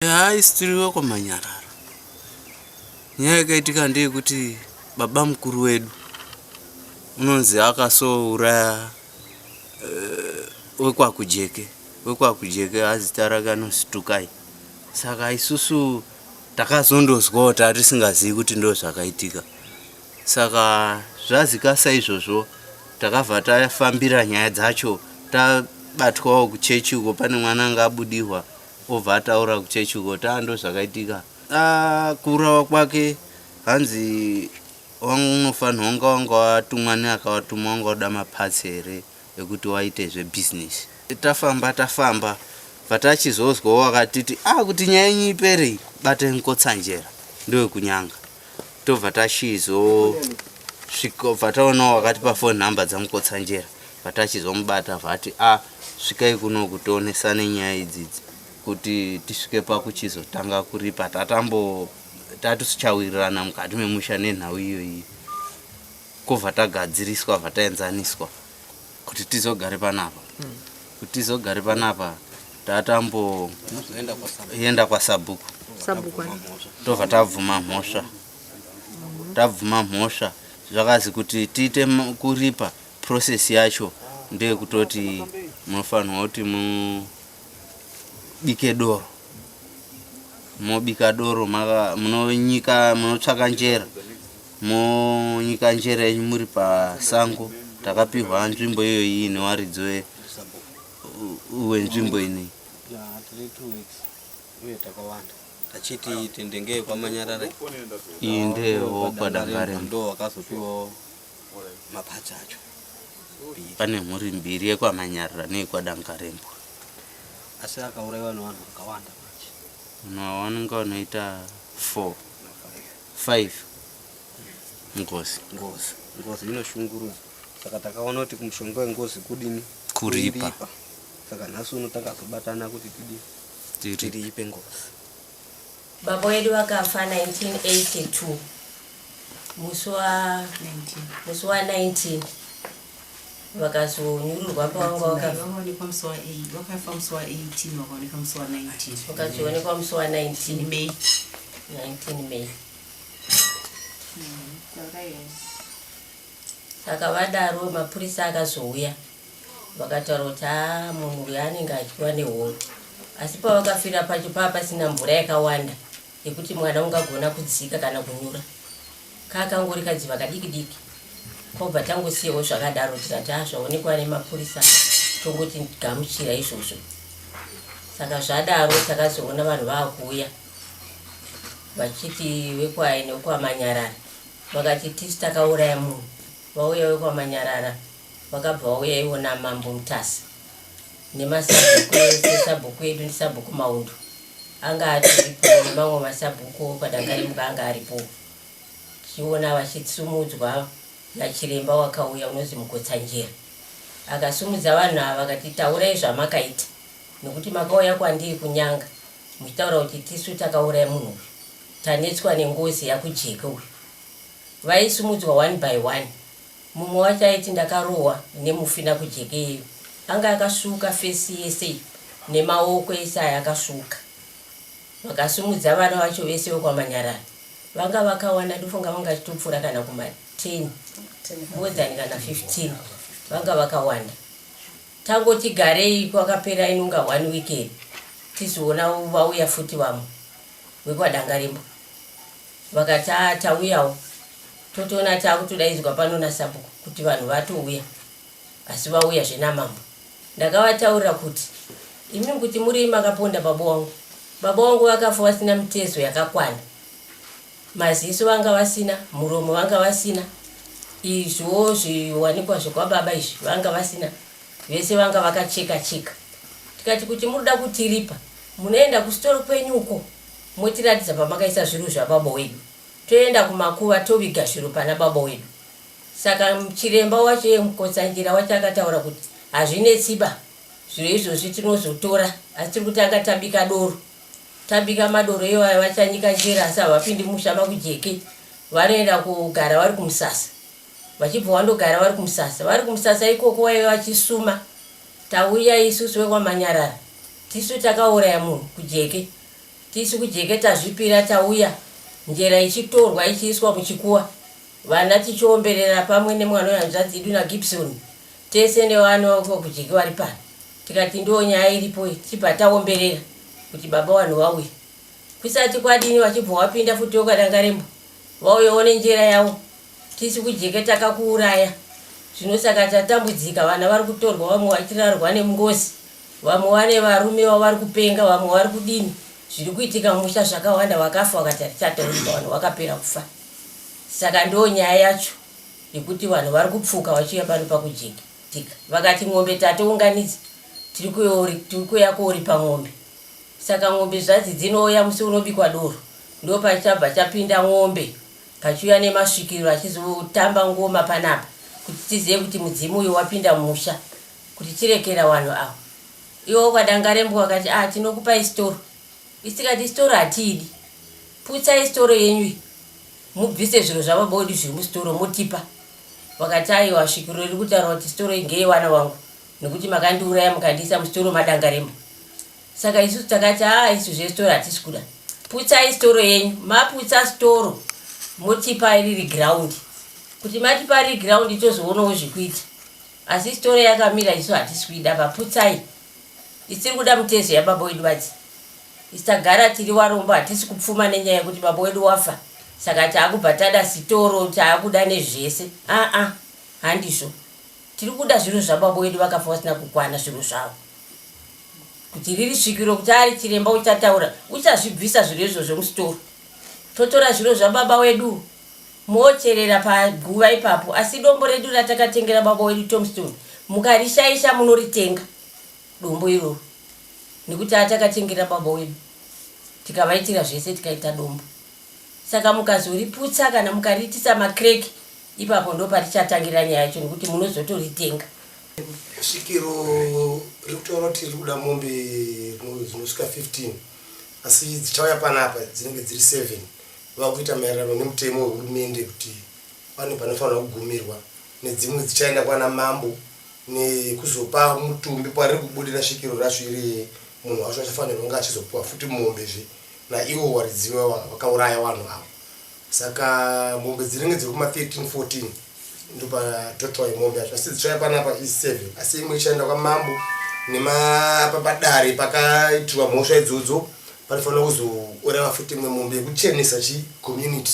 haisitiriweko manyararo nyaya yakaitika ndeyekuti baba mukuru wedu unonzi akasouraya uh, wekwakujeke wekwakujeke azita rake anositukai saka isusu takazondozwawo taa tisingazivi kuti ndo zvakaitika saka zvazikasa izvozvo takabva tafambira nyaya dzacho tabatwawo kuchechi uko pane mwana anga abudihwa Obva ataura kuchechi uko kuti aa ndozvakaitika. Aa kuurawa kwake hanzi wanga unofanirwa wanga wanga watumwa neakawatuma wanga uda mapatsi here ekuti waite zvebusiness. Tafamba tafamba patachizozwawo wakatiti aa kuti nyaya yenyu ipere iyi batai mukotsanjera ndewekunyanga. tobva tachizo svika bva taonawo wakatipa phone number dzamukotsanjera bva tachizomubata vati a ah, svikai kuno kutoonesa nenyaya idzidzi kuti tisvike pakuchizotanga kuripa tatambo tatusichawirirana mukati memusha nenhau iyoyi kobva tagadziriswa bva taenzaniswa kuti tizogare panapa mm. kuti tizogare panapa tatamboenda kwasabhuku tobva tabvuma mhosva tabvuma mhosva zvakazi kuti tiite kuripa process yacho ndeyekutoti munofanirwa kuti mubike doro mobika doro munonyika munotsvaka njera Munyika njere yenyu muri pasango takapihwa nzvimbo iyoyi newaridzo wenzvimbo inei achiti tendenge kwamanyarara iyi ndeyewo kwadangare ndo wakazopiwawo mapatsi acho pane mhuri mbiri yekwamanyarira neyekwadangarembwa asi akauraiwa nevanhu vakawanda manje vanhu ava vanonga vanoita four 5 ngozi ngozi ngozi inoshungurudza saka takaona kuti kumushonga wengozi kudini kuripa saka nhasi uno takazobatana kuti tidi tiriipe ngozi baba wedu vakafa 1982 musi wa 19 vakazonyururwa pavanga vakaonekwa musi wa 8 vakafa musi wa 18 vakaonekwa musi wa 19 vakazoonekwa musi wa 19 may 19 may saka vadaro mapurisa akazouya vakataura kuti haa munhu uyo anenge achiwa nehoro asi pavakafira pacho paa pasina mvura yakawanda yekuti mwana ungagona kudzika kana kunyura kakangori kadziva kadiki diki kobva tangosiyawo zvakadaro tikati ha zvaonekwa nemapurisa tongoti gamuchira izvozvo saka zvadaro takazoona vanhu vakuuya vachiti vekwaine wekwamanyarara vakati tisi takauraya munhu vauya wekwamanyarara vakabva vauya ivo namambo mutasa nemasabhuku ese sabhuku edu ndisabhuku maundu anga atiripo nemamwe masabhuku padangarimuka anga aripo chiona vachitsumudzwa nachiremba wakauya unozi mukotsanjera akasumudza vanhu ava vakati taurai zvamakaita nekuti makauya kwandiri kunyanga muchitaura kuti tisu takauraya munhu uyu tanetswa nengozi yakujeke uyu vaisumudzwa one by one Mumwe wacho aiti ndakarohwa nemufi nakujekeyo anga akasvuuka face yese iyi nemaoko ese aya akasvuuka. Vakasimudza vana vacho vese vekwamanyarara vanga vakawanda ndofunga vanga chitopfuura kana kuma 10 more than kana 15 vanga vakawanda. Tangotigarei kwakapera inonga one weekend tizoona vauya futi vamwe. wekwaDangarembwa vakati ah tauyawo totoona takutodaidzwa pano nasabhuku kuti vanhu vatouya asi vauya zvenamambo ndakavataurira kuti imi kuti muri makaponda baba wangu baba wangu vakafa vasina mitezo yakakwana maziso vanga vasina muromo vanga vasina izvo zviwanikwa zvekwababa izvi vanga vasina vese vanga vakacheka cheka tikati kuti muri kuda kutiripa Munoenda kusitoro kwenyu uko motiratidza pamakaisa zviru zvababa wedu toenda kumakuva toviga zviru pana baba wedu. Saka chiremba wacho iye Mukotsanjera wacho akataura kuti hazvinetsiba zviro izvozvi tinozotora asi tiri kutanga tabika doro. Tabika madoro iwayo vachanyika njere asi havapindi musha makujeke vanoenda kugara vari kumusasa vachibva wandogara vari kumusasa vari kumusasa ikoko waive vachisuma Tauya isusu vekwaManyarara tisu takauraya munhu kuJeke tisu kuJeke tazvipira tauya njera ichitorwa ichiiswa muchikuwa vana tichiomberera pamwe nemwana wehanzvadzi yedu naGibson tese nevana vekuva kuJeke vari pano tikati ndiwo nyaya iripo iyi tichibva taomberera kuti baba vanhu vauye kusati kwadini vachibva wapinda futi yokadangarembwa vauyawo nenjera yavo Tisu kujeka takakuuraya zvino saka tatambudzika vana vari kutorwa vamwe vachirarwa nemungozi vamwe vane varume vavari kupenga vamwe vari kudini zviri kuitika musha zvakawanda vakafa vakati hatichataurika vanhu vakapera kufa saka ndo nyaya yacho yekuti vanhu vari kupfuka vachiuya pano pakujeka tika vakati ng'ombe tatounganidza tiri kuuya kooripa ng'ombe saka ng'ombe zvazi dzinouya musi unobikwa doro ndo pachabva chapinda ng'ombe Pachiuya nemasvikiro achizotamba ngoma panapa kuti tizive kuti mudzimu uyo wapinda musha kuti tirekera wanhu awa. Iwo kwaDangarembwa wakati ah tinokupai storo. Isi tikati storo hatiidi. Putsai storo yenyu iyi mubvise zviro zvababa wedu zviri mustoro motipa. Vakati aiwa svikiro riri kutaura kuti storo iyi ngeyewana wangu nekuti makandiuraya mukandiisa mustoro maDangarembwa. Saka isu takati haa isu zvesitoro hatisi kuda. Putsai sitoro yenyu. Maputsa sitoro motipa riri ground. Kuti matipa riri ground tozoonawo zvekuita. Asi sitoro yakamira isu hatisi kuida paputsai. Isiri kuda mutezo yababa wedu vadzi. Isagara tiri warombo hatisi kupfuma nenyaya yekuti baba wedu wafa. Saka taakubva tada sitoro taakuda nezvese. Aa handizvo. Tiri kuda zvinhu zvababa wedu vakafa vasina kukwana zvinhu zvavo kuti riri svikiro kuti ari chiremba uchataura uchazvibvisa zviro izvo zvemusitoro totora zviro zvababa wedu mocherera paguva ipapo asi dombo redu ratakatengera baba wedu tomstone mukarishaisha munoritenga dombo iroro nekuti atakatengera baba wedu tikavaitira zvese tikaita dombo Saka mukazoriputsa kana mukariitisa macrack ipapo ndoparichatangira nyaya yacho nekuti munozotoritenga. Svikiro riri kutaura kuti riri kuda mombe dzinosvika 15 asi dzichauya panapa dzinenge dziri 7 vakuita maererano nemutemo wehurumende kuti pane panofanira kugumirwa nedzimwe dzichaenda kwana mambo nekuzopa mutumbi kwariri kubudira svikiro racho iri munhu wacho achafanirwa kunge achizopiwa futi mombe zve naivo waridzi wevanhu vakauraya vanhu avo saka mombe dzinenge dziri kuma 13 14 ndopa total yemombe yacho asi dzichaya panapa i 7 asi imwe ichaenda kwamambo nemapapadare pakaitirwa mhosva idzodzo panofanira kuzooreva futi imwe mombe yekuchenesa chi community